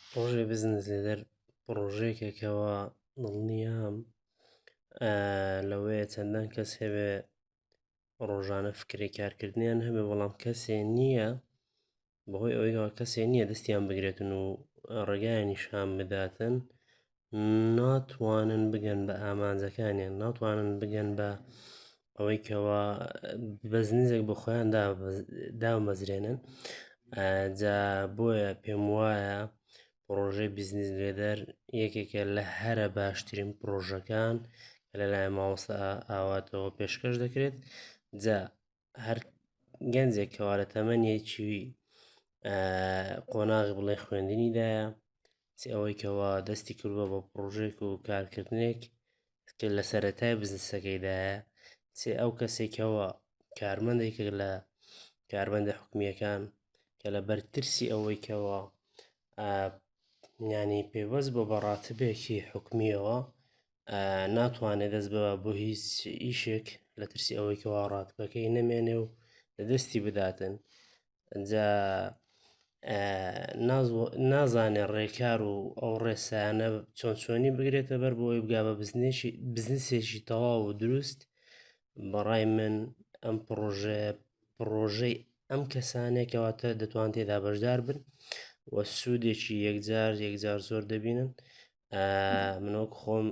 پڕۆژەی بزنس لێدەر پڕۆژەیەکە کەەوە دڵنیام لەوەیە چەندان کەس هەوێ ڕۆژانە فکری کارکردنیان هەبێ بەڵام کەسێ نییە بەهۆی ئەوەیەوە کەسێ نییە دەستیان بگرێتن و ڕێگایانی شان بداتن ناتوانن بگەن بە ئامانجەکانیان ناتوانن بگەن بە ئەوەی کەەوە بەزنزێک بە خۆیان دامەزرێنن جا بۆیە پێم وایە پرۆژەی بزنس لێدەر یەکێکە لە هەرە باشترین پرۆژەکان لەلای ماوەستا ئاواتەوە پێشکەش دەکرێت جا هەر گەنجێک کەوا لە تەمەنێکی قۆناغ بڵێ خوێندنیدایە چ ئەوەی کەوا دەستی کردوە بە پرۆژێک و کارکردنێک کە لە سەتای بزنسەکەیدایە چێ ئەو کەسێکەوە کارمەندێک لە کاربندە حکومیەکان کە لە بەرترسی ئەوەی کەەوە ینی پێوەست بۆ بەڕاتبێکی حکومیەوە ناتوانێت دەست بە بۆ هیچ ئیشێک لە ترسی ئەوەی کەوا ڕاتپەکەی نەمێنێ و لە دەستی بداتن جا نازانێ ڕێکار و ئەو ڕێسایانە چۆن چۆنی بگرێتە بەر بۆی بگا بە بزنێکی بزنسێکی تەواو و دروست بەڕای من ئەم پرۆژە پرۆژەی ئەم کەسانێکەوەتە دەتوان تێدا بەشدار بن و سوودێکی یەکجار یەکجار زۆر دەبینن منۆک خۆم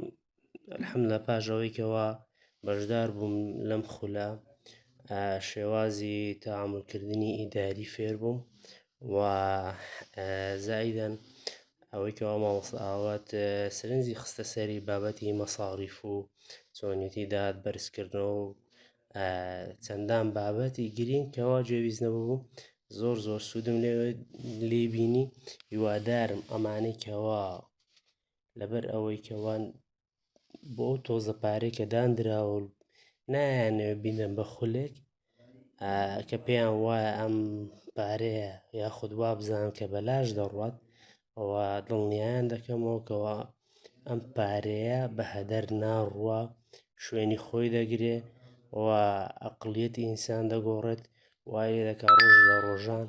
حەم لە پاژەوەیکەوە بەشدار بووم لەم خولە شێوازی تاملکردنی ئیداری فێر بووم و زایدەن ئەوەی کەوا مامۆستا ئاوات سرنجی خستە سەری بابەتی مەساریف و چۆنیتی داد بەرزکردنەوە و چەندان بابەتی گرینگ کەوا جێویزنەوە بوو زۆر زۆر سوودم لێ لی بینی هیوادارم ئەمانەی کەوا لەبەر ئەوەی کەوان بۆ ئەو تۆزە پارێک کە دانراوە و نایانەوە بینەم بە خولێک کە پێیان وایە ئەم پارەیە یاخود وابزان کە بەلاش دەڕات و دڵنیایان دەکەمەوە کەوا ئەم پارەیە بە هەدەر ناڕوە شوێنی خۆی دەگرێ و ئەقڵیەتی ئینسان دەگۆڕێت وای دەکا ڕۆژ لە ڕۆژان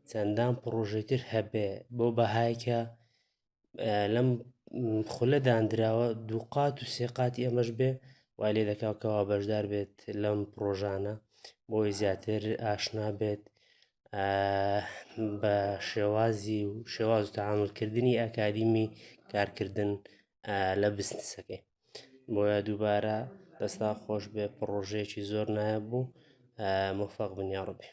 چەندان پڕۆژەی تر هەبێ بۆ بەهایکە لەم خولە دانراوە دووقات و سێقاتی ئەمەش بێ وای لێ دەکاکەەوە بەشدار بێت لەم پرۆژانە بۆی زیاتر ئاشنا بێت بە شێوازی و شێواز و تەعاملکردنی ئەکادیمی کارکردن لە بزنسەکەی بۆیە دووبارە دەستا خۆش بێ پڕۆژەیەکی زۆر نایە بوو مفاق بنیا ڕبێ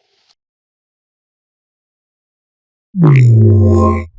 Thank you.